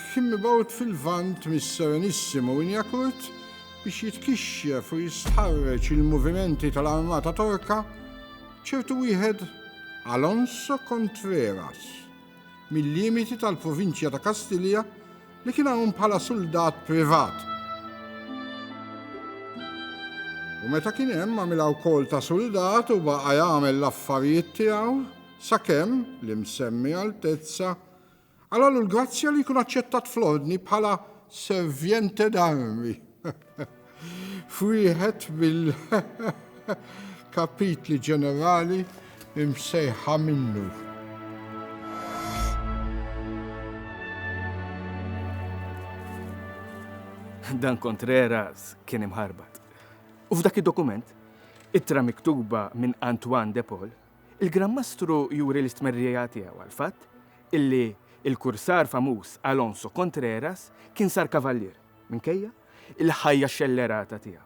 Kien mibgħut fil-Lvant mis-Serenissimo Winiakurt biex jitkixxef u jistħarreġ il-movimenti tal-armata Torka, ċertu wieħed Alonso Contreras, mil-limiti tal-provinċja ta' Kastilja li kien hawn bħala suldat privat. U meta kien hemm għamilha wkoll ta' suldat u baqa' jagħmel l-affarijiet tiegħu sakemm l-imsemmi Altezza Għalalu l-grazzja li jkun aċċettat fl-Ordni bħala servjente d'armi. F'wieħed mill kapitli ġenerali imsejħa minnu. Dan Contreras kien imħarbat. U f'dak id-dokument, ittra miktuba minn Antoine de Paul, Il-Gran Mastru juri l-istmerrija tiegħu għall-fatt illi l-kursar famuż Alonso Contreras kien sar kavallier minkejja l-ħajja xellerata tiegħu.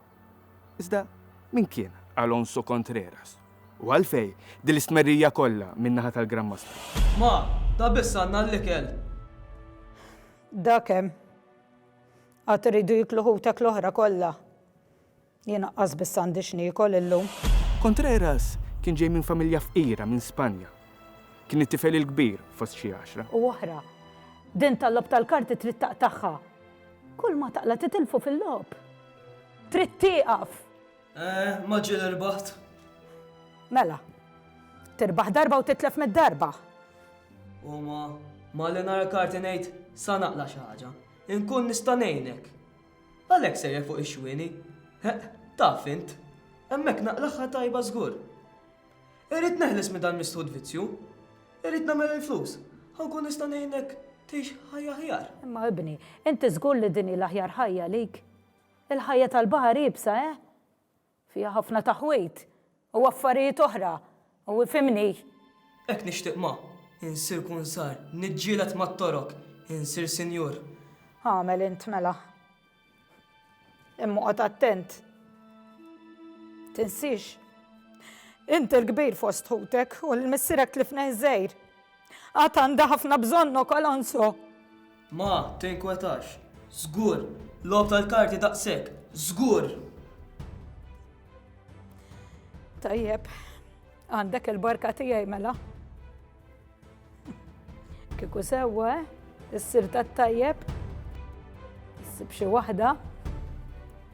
Iżda min kien Alonso Contreras u għalfejn din l-istmerrija kollha min-naħa tal-Gran Mastru? Ma, ta' biss għandna l-ikel! Dak hemm. Għad iridu jieklu ħutek l-oħra kollha. Jien aqqas biss għandi x'niekol illum. Contreras kien ġej minn familja fqira minn Spanja. Kien it-tifel il-kbir fost xi għaxra. U oħra. Din tal-logħob tal-karti trid taqtagħha. Kull ma taqla' titilfu fil-logħob. Trid tieqaf! Eh, ma ġieli rbaħt. Mela. Tirbaħ darba u titlef mitt darba. U ma, malli nara karti ngħid, sa naqla' xi ħaġa. Inkun nista' ngħinek. Għalhekk sejjer fuq ix-xwieni? Heq, taf int. Hemmhekk naqlagħha tajba żgur. Irrid neħles minn dal-misħut vizzju. Irrid nagħmel il-flus, ħa nkun nista' ngħinek tgħix ħajja aħjar. Imma ibni, inti żgur li din hi l-aħjar ħajja għalik? Il-ħajja tal-baħar iebsa, eh? Fiha ħafna taħwid u affarijiet oħra u ifhimni. Hekk nixtieq ma. Insir kunsar, niġġieled mat-torok, insir sinjur. Agħmel int mela. Imma oqgħod attent. Tinsiex. Int il-kbir fost ħutek u lil missierek tlifnih żgħir. Għad għandha ħafna bżonnok, Alonso! Ma tinkwetax. Żgur! Logħob tal-karti daqshekk! Żgur! Tajjeb, għandek il-barka tiegħi mela. Kieku sewwa, eh? Issir tat-tajjeb. Issib xi waħda.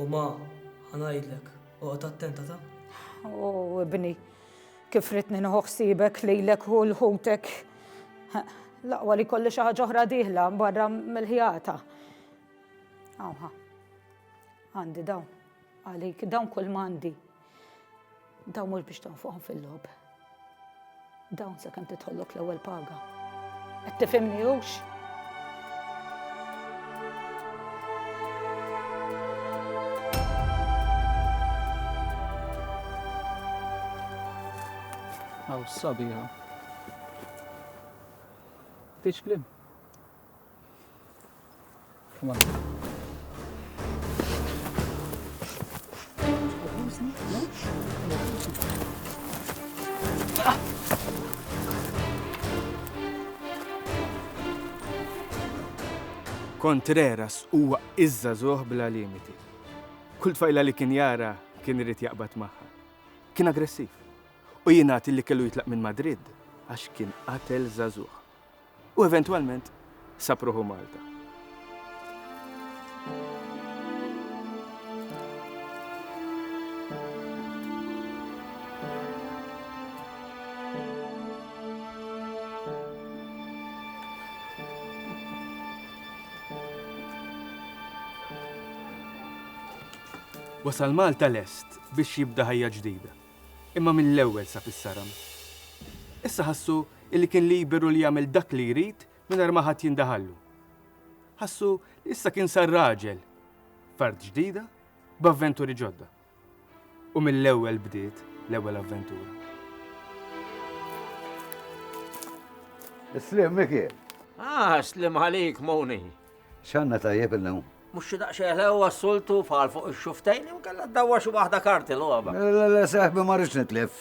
U ma, ħanajdlek, oqgħod attenta ta'. O ibni, kif ritni nħoħsibek lilek u l-ħutek. Laqwa li kolli xi ħaġa oħra diħla barra mill-ħjata. Awha. Għandi dawn. Għalik dawn kull mandi. Dawn mhux biex tonfoqhom fil-logħob. Dawn sakemm tidħollok l-ewwel paga. Qed tifhimni hux? Aw sabiħa. Tiċ klim? Contreras huwa iżża żoħ bla limiti. Kull tfajla li kien jara kien irid jaqbad magħha. Kien aggressiv u jingħad li kellu jitlaq minn Madrid għax kien qatel żagħżugħ. u eventwalment sab ruħu Malta. Wasal Malta lest biex jibda ħajja ġdida, imma mill-ewwel sa fis-saram. Issa ħassu illi kien liberu li jagħmel dak li jrid mingħajr ma ħadd jindaħallu. Ħassu li issa kien sar raġel f'art ġdida b'avventuri ġodda. U mill-ewwel bdiet l-ewwel avventura. Slim, Miki. Ah, slim għalik, Moni. X'għandna tajjeb illum? Mhux xi daqsxejn le huwa s-soltu fal fuq ix-xuftejn jew kellha ddawwa xi waħda karti logħba. Le le seħbi ma rridx nitlef.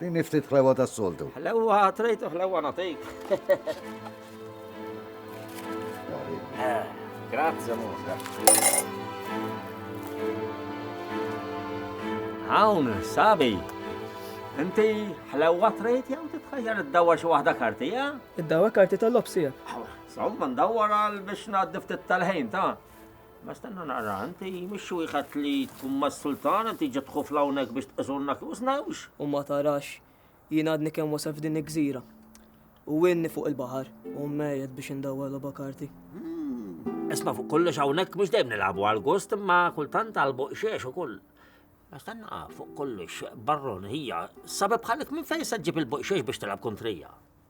Din ftit ħlewa tas-soltu. Ħlewa trejtu ħlewa nagħtik. Eh, Grazzi Musa. Hawn, sabi. Inti ħlewa trejt jew titħajjar id-dawwa xi waħda karti, ja? Id-dawwa karti tal-lobsija. Somma ndawwar għal biex ngħaddi ftit tal-ħin ta' Ma stenna naqra, inti mhux wieħed li tkun mas-sultan, inti ġiet tħufla hawnhekk biex tqisurna kif snawx. U ma tarax, jien għadni kemm wasal f'din il-gżira. U inni fuq il-baħar, u mejjed biex indawwar logħba karti. Hmm, isma' fuq kollox hawnhekk mhux dejjem nilagħbu għal gost imma kultant għal boqxiex ukoll. Ma stenna fuq kollox barron hija sabeb bħalik minn fejn se ġib il-boqxiex biex tilgħab kontrija.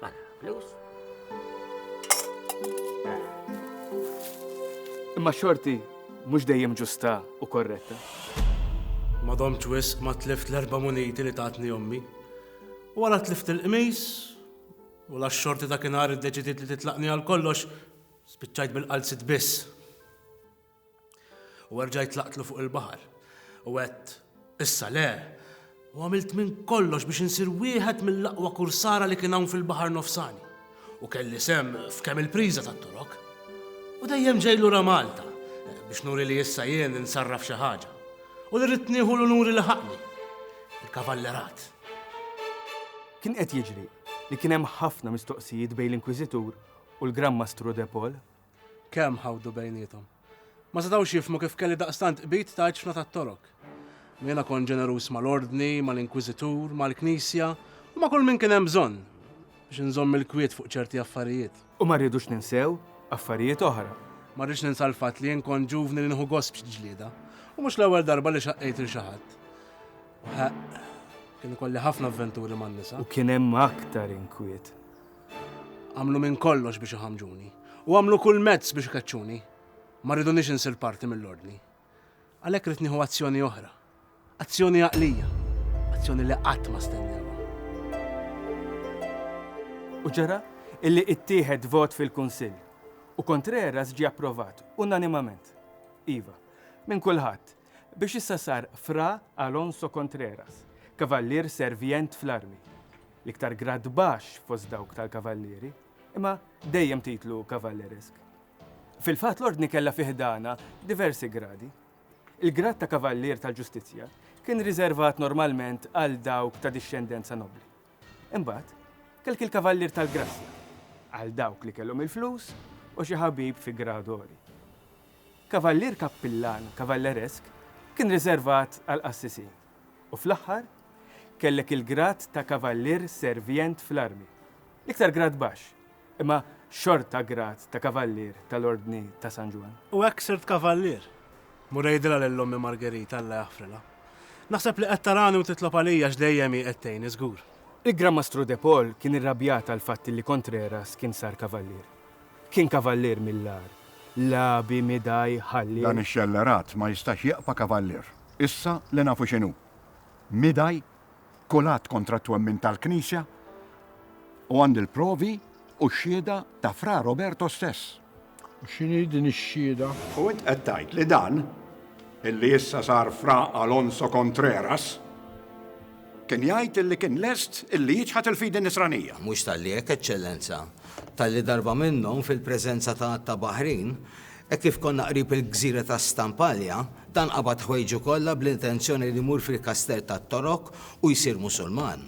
Mela, flus. Imma xorti mhux dejjem ġusta u korretta. Ma domċ wisq ma tlift l-erba' muniti li tatni ommi. U għala tlift il-qmis u la xorti ta' kien id-deċidiet li titlaqni għal kollox spiċċajt bil-qalzit biss. U erġajt tlaqtlu fuq il-baħar. U għedt, Issa le! U għamilt minn kollox biex insir wieħed mill-aqwa kursara li kien hawn fil-Baħar Nofsani. U kelli sehem f'kemm il-priża tat-Torok. U dejjem ġej lura Malta biex nuri li issa jien insarraf xi ħaġa. U li rrid nieħu l-unuri li ħaqni, il-Kavallerat. Kien qed jiġri li kien hemm ħafna mistoqsijiet bejn l-Inkwiżitur u l-Gran Mastru de Pol. Kemm ħawdu bejniethom. Ma setgħux jifhmu kif kelli daqstant qbid ta' għeġfna tat-Torok. Jiena kont ġeneruż mal-Ordni, mal-Inkwiżitur, mal-Knisja u ma' kull min kien hemm bżonn biex inżomm il-kwiet fuq ċerti affarijiet. U ma rridux ninsew affarijiet oħra. Ma rridx ninsa l-fatt li jien kont ġuvni li nieħu gost f'xi ġlieda u mhux l-ewwel darba li xaqqejt lil xi ħadd. Ħaqq, kien ikolli ħafna avventuri man-nisa. U kien hemm aktar inkwiet. Għamlu minn kollox biex iħammġuni, u għamlu kull mezz biex ikeċċuni. Ma rridunix insir parti mill-ordni. Għalhekk rrid nieħu azzjoni oħra. Azzjoni għaqlija. Azzjoni li qatt ma stennewha. U ġara illi ittieħed vot fil-Kunsill u Contreras ġie approvat unanimament. Iva, minn kulħadd, biex issa sar Fra Alonso Contreras, kavallier servjent fl-armi, l-iktar grad baxx fost dawk tal-kavallieri, imma dejjem titlu kavalleresk. Fil-fatt l-Ordni kellha fi ħdanha diversi gradi. Il-grad ta' Kavallier tal-Ġustizzja kien riżervat normalment għal dawk ta' dixxendenza nobbli. Imbagħad, kelk il-Kavallier tal-Grazzja, għal dawk li kellhom il-flus u xi ħabib fi grad għoli. Kavallier Kappillan Kavalleresk kien riservat għall-qassisin u fl-aħħar kellek il-grad ta' Kavallier Servient fl-Armi, l-iktar grad baxx imma xorta grad ta' Kavallier tal-Ordni ta' San Ġwann. U hekk sirt Kavallier. Mur għidilha lil ommi Margerita, Alla jaħfrilha. Naħseb li qed tarani u titlob għalija għax dejjem hi qed tgħinni żgur. Il-Gran Mastru De Paul kien irrabjat għall-fatt li Contreras kien sar Kavallier. Kien Kavallier mill-agħar, lagħbi, midaj, ħalliel. Dan ix-xellerat ma jistax jaqpa' Kavallier. Issa li nafu x'inhu. Midaj? kull att kontra t-twemmin tal-Knisja u għandi l-provi u x-xhieda ta' Fra Roberto stess. U x'inhi din ix-xhieda? U int qed tgħid li dan, illi issa sar Fra Alonso Contreras, kien jgħid illi kien lest illi jiċħad il-fidi Nisranija? Mhux talli hekk, Eċċellenza. Talli darba minnhom, fil-preżenza ta' għadd ta' baħrin, Hekk kif konna qrib il-gżira ta' Stampalja, dan qabad ħwejġu kollha bl-intenzjoni li jmur fil-Kastell tat-Torok u jsir Musulman.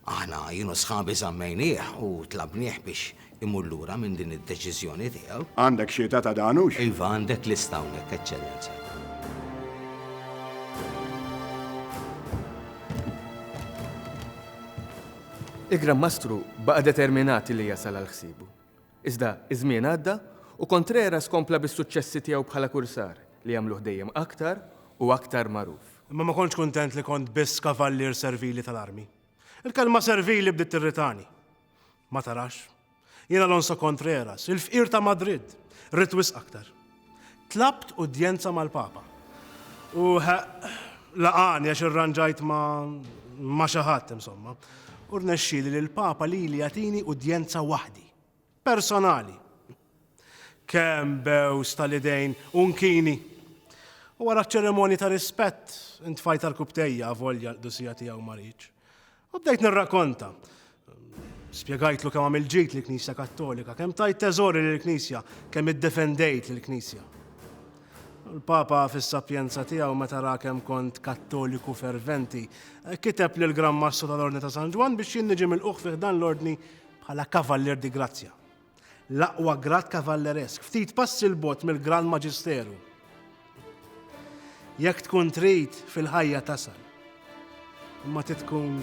Aħna, jien u sħabi żammejnieh u tlabnieh biex imur lura minn din id-deċiżjoni tiegħu. Għandek xi età ta' dan, hux? Iva, għandek lista hawnhekk, Eċċellenza. Il-Gran Mastru baqa' determinat li jasal għal ħsiebu. Iżda iż-żmien għadda u Contreras kompla bis-suċċessi tiegħu bħala kursar, li għamluh dejjem aktar u aktar magħruf. Imma ma kontx kuntent li kont biss kavallier servili tal-armi. Il-kelma servili bdiet tirritani. Ma tarax? Jien Alonso Contreras, il-fqir ta' Madrid, ridt wisq aktar. Tlabt udjenza mal-Papa. U laqgħani għax irranġajt ma' xi ħadd, insomma. U rnexxieli li l-Papa lili jagħtini udjenza waħdi. Personali. Kemm bews tal-idejn u nkini! U wara ċ-ċerimonji ta' rispett, intfajt għall-kubtejja avolja l-qdusija tiegħu ma ridx. U bdejt nirrakonta. Spjegajtlu kemm għamil ġid li knisja Kattolika, kemm tajt teżori li l-Knisja, kemm iddefendejt li l-Knisja. Il-Papa fis-sapjenza tiegħu meta ra kemm kont Kattoliku ferventi, kiteb lil Gran Mastru tal-Ordni ta' San Ġwann biex jien niġi milquħ fih dan l-Ordni bħala Kavallier di Grazzja. l-aqwa grad kavalleresk, ftit passi l-bogħod mill-Gran Maġisteru. Jekk tkun trid fil-ħajja tasal. Imma titkun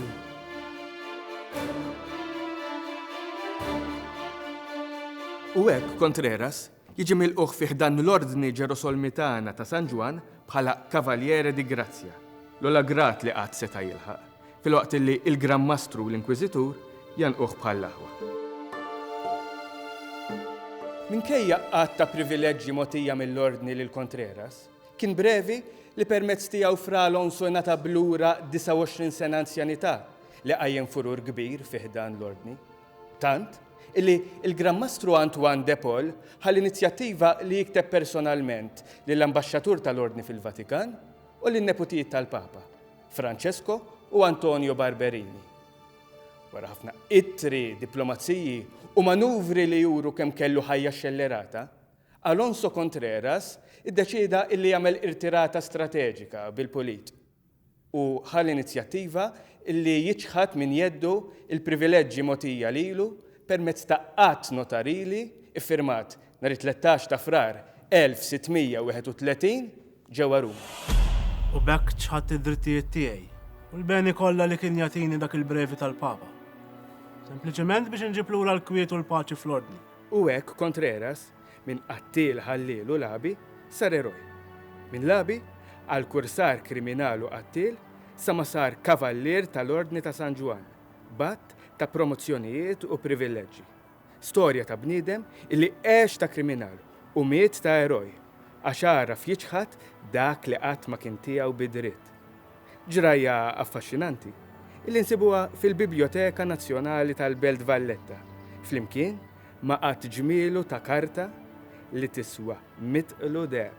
U hekk Contreras jiġi mill-uħ fiħdan l-ordni ġerosolmitana ta' San Ġwan bħala Kavaljere di Grazzja, l-ola grat li qatt seta' jilħaq. Filwaqt li l-Gran Mastru u l-Inkwiżitur jgħannquh bħall-aħwa. Minkejja għadd ta' privileġġi mogħtija mill-Ordni lil Contreras, kien brevi li permezz tiegħu Fra Alonso ngħatab lura 29 sena anzjanità li qajjem furur kbir fi ħdan l-Ordni. Tant, illi l-Gran Mastru Antoine de Paul ħa l-inizjattiva li jikteb personalment lill-Ambaxxatur tal-Ordni fil-Vatikan u lin-neputijiet tal-Papa. Francesco u Antonio Barberini. Wara ħafna ittri, diplomaziji u manuvri li juru kemm kellu ħajja xxellerata, Alonso Contreras iddeċieda illi jagħmel irtirata strateġika bil-pulit u ħa l-inizjattiva illi jiċħad minn jeddu l-privileġġi mogħtija lilu permezz ta' att notarili ffirmat nhar it-tlettax ta' Frar 1631 ġewwa Ruma. U b'hekk ċħadt id-drittijiet tiegħi u l-beni kollha li kien jagħtini dak il-brevi tal-Papa. Sempliċement biex inġib lura l-kwiet u l-paċi fl-ordni. U hekk Contreras, minn qattiel ħalliel u lagħbi, sar eroj. Minn lagħbi, għal kursar kriminal u qattiel, sa ma sar Kavallier tal-Ordni ta' San Ġwann, b'għadd ta' promozzjonijiet u privilleġġi. Storja ta' bniedem li għex ta' kriminal u miet ta' eroj għax għaraf jiċħad dak li qatt ma kien tiegħu bi dritt. Ġrajja affaxxinanti li nsibuha fil-Bibljoteka Nazzjonali tal-Belt Valletta flimkien ma' għadd ġmielu ta' karta li tiswa mitt qlu deheb.